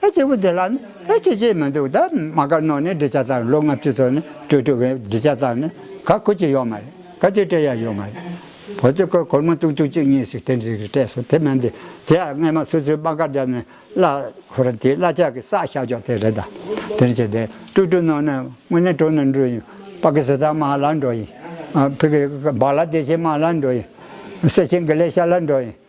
ད་སྐྱེས་བུ་དེ་ལ་ནི་ད་སྐྱེས་སྐྱེས་མི་འདུག་ད་མ་ག་ནོ་ནས་འབྲི་བྱ་ཙམ་ལོ་ལྔ་བཅུ་ཚོ་ནི་སྤྲོས་དྲུག་གི་འབྲི་བྱ་ཙམ་ནི་ག་གུ་ཅི་ཡོད་མ་རེད་ག་ཅི་སྤྲད་ཡ་ཡོད་མ་རེད་བོད་ཀྱི་སྐོར་གོར་མོ་གཏུག་གཏུག་ཅིག་གཉིས་ཤིག་དེ་འདྲས་ཀྱི་སྤྲད་སོང་དེ་མིན་དེ་དེ་ཡང་རྔན་མ་སུ་སུའི་དཔང་ཁར་བརྒྱབ་ནས་བླ་ཧོ་ར་དེའི་བླ་ཆག་གི་བསགས་བཞག་ཅོག་དེ་རེད་ད་དེ་འདྲས་ཀྱི་དེ་སྤྲོས་དྲུག་ནོ་ནས་དངོས་གནས་དྲོ་ནས་འགྲོ་ཡིན་པ་ཀི་སི་ཐན་མ་ལ་འགྲོ་ཡིན་ཕི་གི་བག་ལ་དེ་བྱེད་མ་ལ་འགྲོ་ཡིན་སེ་ཆེན་གི་ལས་བྱ་ལ་འགྲོ་ཡིན།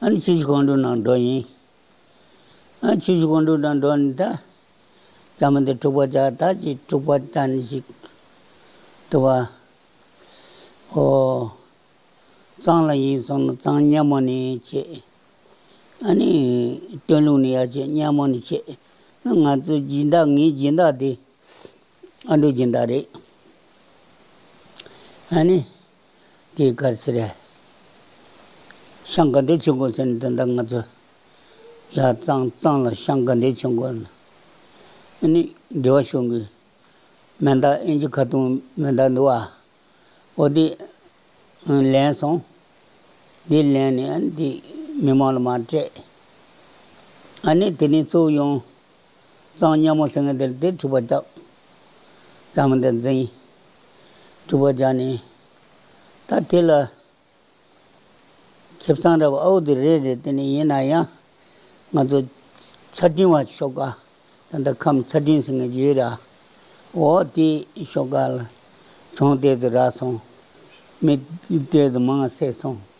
ཆོས་ཀྱི་སྐུ་མདོག་ནག་འགྲོ་ཡིན། ཆོས་ཀྱི་སྐུ་མདོག་ནག་འགྲོ་ནི་ད། ཅག་མི་འདི་དཀྲུགས་པ་ཅག་ད་ཅིག་དཀྲུགས་པ་ད་ནི་ཅིག། དུ་བ། ཧོ། གཙང་ལ་ཡིན་སོང་ན་གཙང་སྙན་མོ་ནི་བྱེད། ཨ་ནི། སྟོན་ལུགས་ནི་ཡར་བྱེད་སྙན་མོ་ནི་བྱེད། ང་ཚོའི་སྦྱིན་བདག་ངའི་སྦྱིན་བདག་འདི། ཨ་འགྲོ་སྦྱིན་བདག་རེད། ཨ་ནི། དེའི་སྐར་ཆ་རེད། ཤང་དགའ་འབྲས་ཆེན་དགོན་ཟེར་ནས་དོན་དག་ང་ཚོ། ཡ་གཙང་གཙང་ལ་ཤང་དགའ་འབྲས་ཆེན་དགོན། ཨ་ནི། འདི་བ་ཤོང་གི། མེ་མདག་ཨིན་ཇི་ཁ་ཐུང་མེ་མདག་འདི་བ། ཨོ་དེ། ལེན་སོང། དེ་ལེན་ནས་ཨ་ནི་དེ་མི་མང་ལ་མ་སྤྲད། ཨ་ནི་དེ་ནས་གཙོ་བོ་ཡོང། གཙང་སྙན་མོ་སེང་གེ་དེར་དེ་ཁྲུས་པ་བརྒྱག། བྱམས་བརྩེ་འཛིན། ཁྲུས་པ་བརྒྱག་ནས། ད་དེ་ལ། ཁེབས་གཙང་འདྲ་བོ་ཨའུ་དེ་རེད་རེད་དེ་ནས་ཡིན་ན་ཡང། ང་ཚོ། ཆ་འཕྲིན་བ་ཞོག་ཀ། ད་ལྟ་ཁམས་ཆ་འཕྲིན་ཟེར་ངེས་ཀྱི་ཡོད་ར། འོ་དེ་ཞོག་ཀ། ལ། བྱུང་ལྟས་སུ་རག་སོང། མི། ལྟས་སུ་མང་བསད་སོང།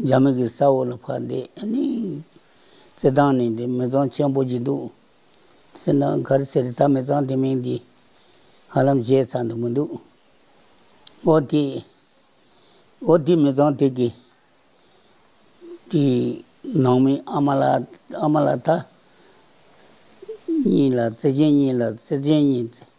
རྒྱ་མི་གི་ས་འོག་ལ་ཕར་བསྡད་ནས་བརྩེ་གདང་ནི་འདི་མི་ཚང་ཆེན་པོ་ཅིག་འདུག་སེམས་ནང་མཁར་སེར་ཐ་མི་ཚང་དེ་མིང་འདི་ཧ་ལམ་བཞེས་ཚར་འདུག་མི་འདུག་འོ་དེ་འོ་དེ་མི་ཚང་དེ་གི་དེའི་ནང་མི་ཨ་མ་ལ་ཨ་མ་ལ་ཐ་གཉིས་ལ་བརྩེ་ཆེན་གཉིས་ལ་བརྩེ་ཆེན་གཉིས་བརྩེ།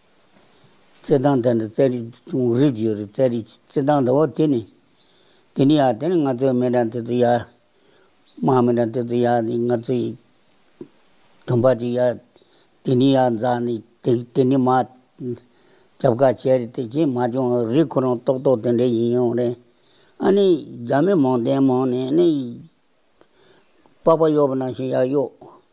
རྩེད་ཐང་དེ་འདྲ་རྩེད་རིགས་ཅུང་རིགས་རྒྱུད་ཡོད་རེད་རྩེད་རིགས་རྩེད་ཐང་འདྲ་བོ་དེ་ནི། དེ་ནི་ཡ་དེ་ནི་ང་ཚོའི་མི་འདྲ་དེ་ཚོ་ཡ། དམག་མི་འདྲ་དེ་ཚོ་ཡ་ནི་ང་ཚོའི་དམ་པ་ཅིག་ཡ། དེ་ནི་ཡ་རྫ་ནི་དེ་དེ་ནི་མ། རྒྱབ་ཁ་བྱས་རེད་དེ་བྱས་མ་བྱུང་རིགས་ཁོ་རང་རྟོག་རྟོག་དེ་འདྲ་ཡིན་ཡོང་རེད། ཨ་ནི་རྒྱ་མི་མང་བསྟན་མང་ནས་ནི། པགས་པ་གཡོག་པ་ནང་བཞིན་ཡ་གཡོག།